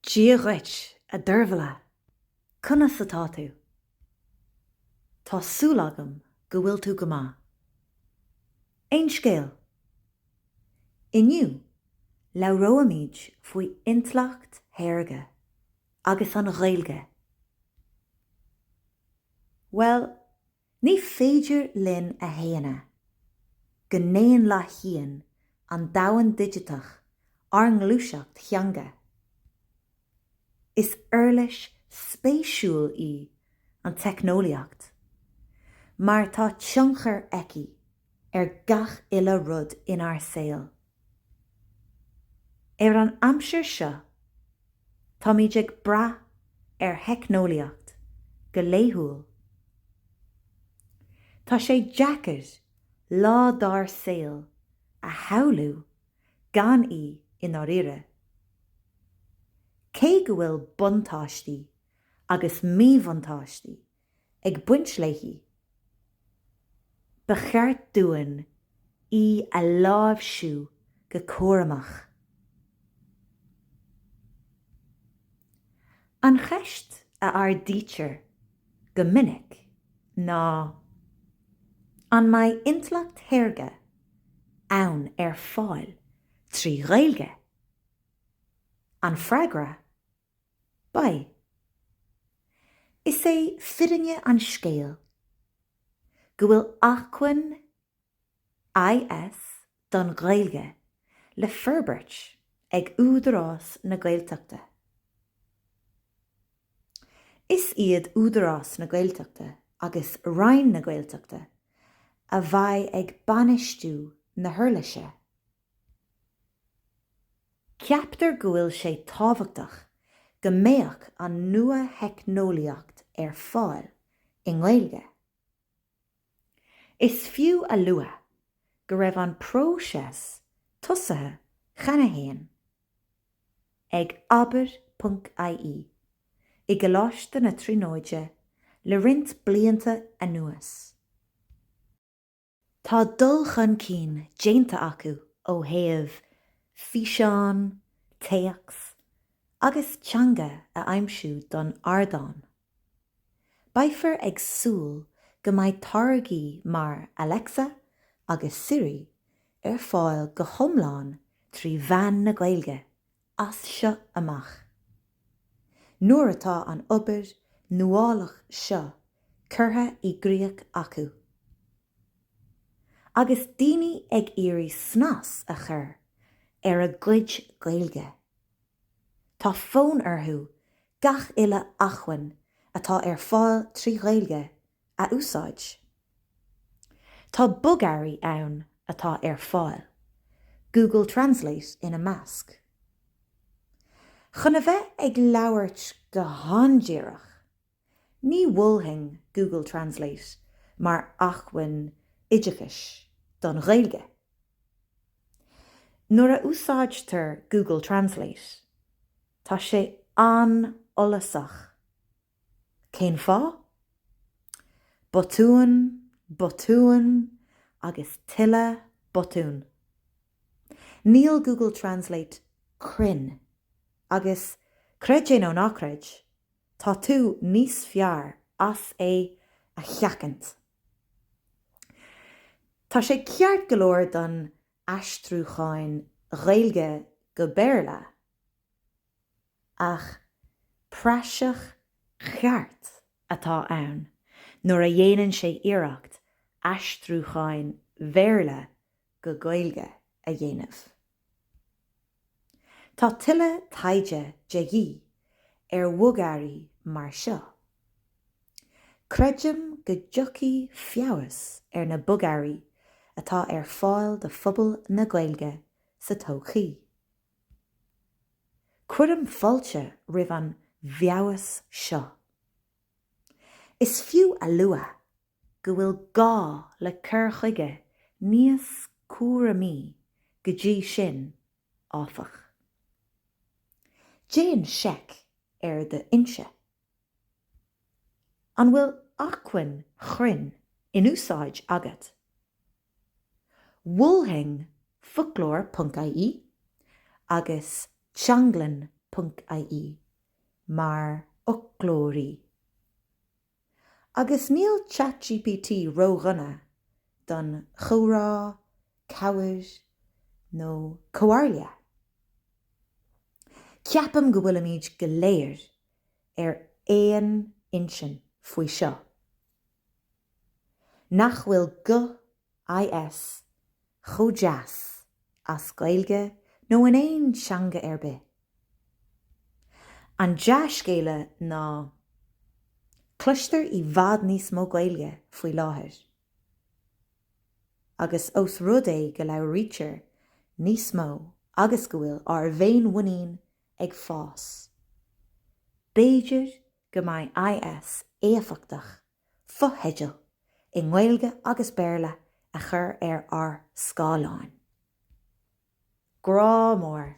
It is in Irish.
Dia dhuit, a Deirbhile! Conas atá tú? Tá súil agam go bhfuil tú go maith. Aon scéal? Inniu, labhróimid faoi Intleacht Shaorga agus an Ghaeilge. Bhuel, Ní féidir linn a shéanadh go ndaonlathaíonn an domhan digiteach ár ngluaiseacht theanga. Is uirlis spéisiúil í an teicneolaíocht mar tá tionchar aici ar gach uile rud inár saol. Ar an aimsir seo, táimid ag brath ar theicneolaíocht go laethúil. Tá sé deacair lá dár saol a shamhlú gan í i ndáiríre. Cé go bhfuil buntáistí agus míbhuntáistí ag baint léi, ba cheart dúinn í a láimhsiú go cúramach. An cheist a ardaítear go minic ná An mbeidh intleacht shaorga ann ar fáil trí Ghaeilge? An freagra Beidh. Is é fírinne an scéil go bhfuil acmhainn IS don Ghaeilge le forbairt ag Údarás na Gaeltachta. Is iad Údarás na Gaeltachta agus Roinn na Gaeltachta a bheidh ag bainistiú na huirlise. Ceaptar go bhfuil sé tábhachtach go mbeadh an nuatheicneolaíocht ar fáil i nGaeilge. Is fiú a lua go raibh an próiseas tosaithe cheana féin ag abair.ie i gColáiste na Tríonóide le roinnt blianta anuas. Tá dul chun cinn déanta acu ó thaobh físeán, téacs agus teanga a aimsiú don ardán. Beifear ag súil go mbeidh táirgí mar Alexa agus Siri ar fáil go hiomlán trí mheán na Gaeilge as seo amach. Nuair atá an obair nuálach seo curtha i gcríoch acu, agus daoine ag iarraidh snas a chur ar a gcuid Gaeilge, tá fonn orthu gach uile acmhainn atá ar fáil trí Ghaeilge a úsáid. Tá bogearraí ann atá ar fáil, Google Translate ina measc, chun a bheith ag labhairt go han-díreach. Ní mholfainn Google Translate mar acmhainn oideachais don Ghaeilge. Nuair a úsáidtear Google Translate, tá sé an-fhollasach. Cén fáth? Botúin, botúin agus tuilleadh botún. Níl Google Translate cruinn agus, creid é nó ná creid, tá tú níos fearr as é a sheachaint. Tá sé ceart go leor don aistriúcháin Ghaeilge go Béarla, ach praiseach cheart atá ann nuair a dhéanann sé iarracht aistriúcháin Bhéarla go Gaeilge a dhéanamh. Tá tuilleadh taighde de dhíth ar bhogearraí mar seo. Creidim go dtiocfaidh feabhas ar na bogearraí atá ar fáil do phobal na Gaeilge sa todhchaí, Cuirim fáilte roimh an bhfeabhas seo. Is fiú a lua go bhfuil gá le cur chuige níos cúramaí go dtí sin, áfach. Déan seic ar do fhoinse. An bhfuil acmhainn chruinn in úsáid agat? Mholfainn foclóir.ie agus teanglann.ie mar fhoclóirí. Agus níl ChatGPT ródhona don chomhrá, cabhair nó comhairle. Ceapaim go bhfuilimid go léir ar aon intinn faoi seo, nach bhfuil guth IS chomh deas as Gaeilge nó in aon teanga ar bith. An dea-scéal ná cloistear i bhfad níos mó Gaeilge faoi láthair. Agus ós rud é go labhraítear níos mó agus go bhfuil ár bhféinmhuinín ag fás. B'fhéidir go mbeidh IS éifeachtach fotheidil i nGaeilge agus Béarla a chur ar ár scáileáin. Grá mór.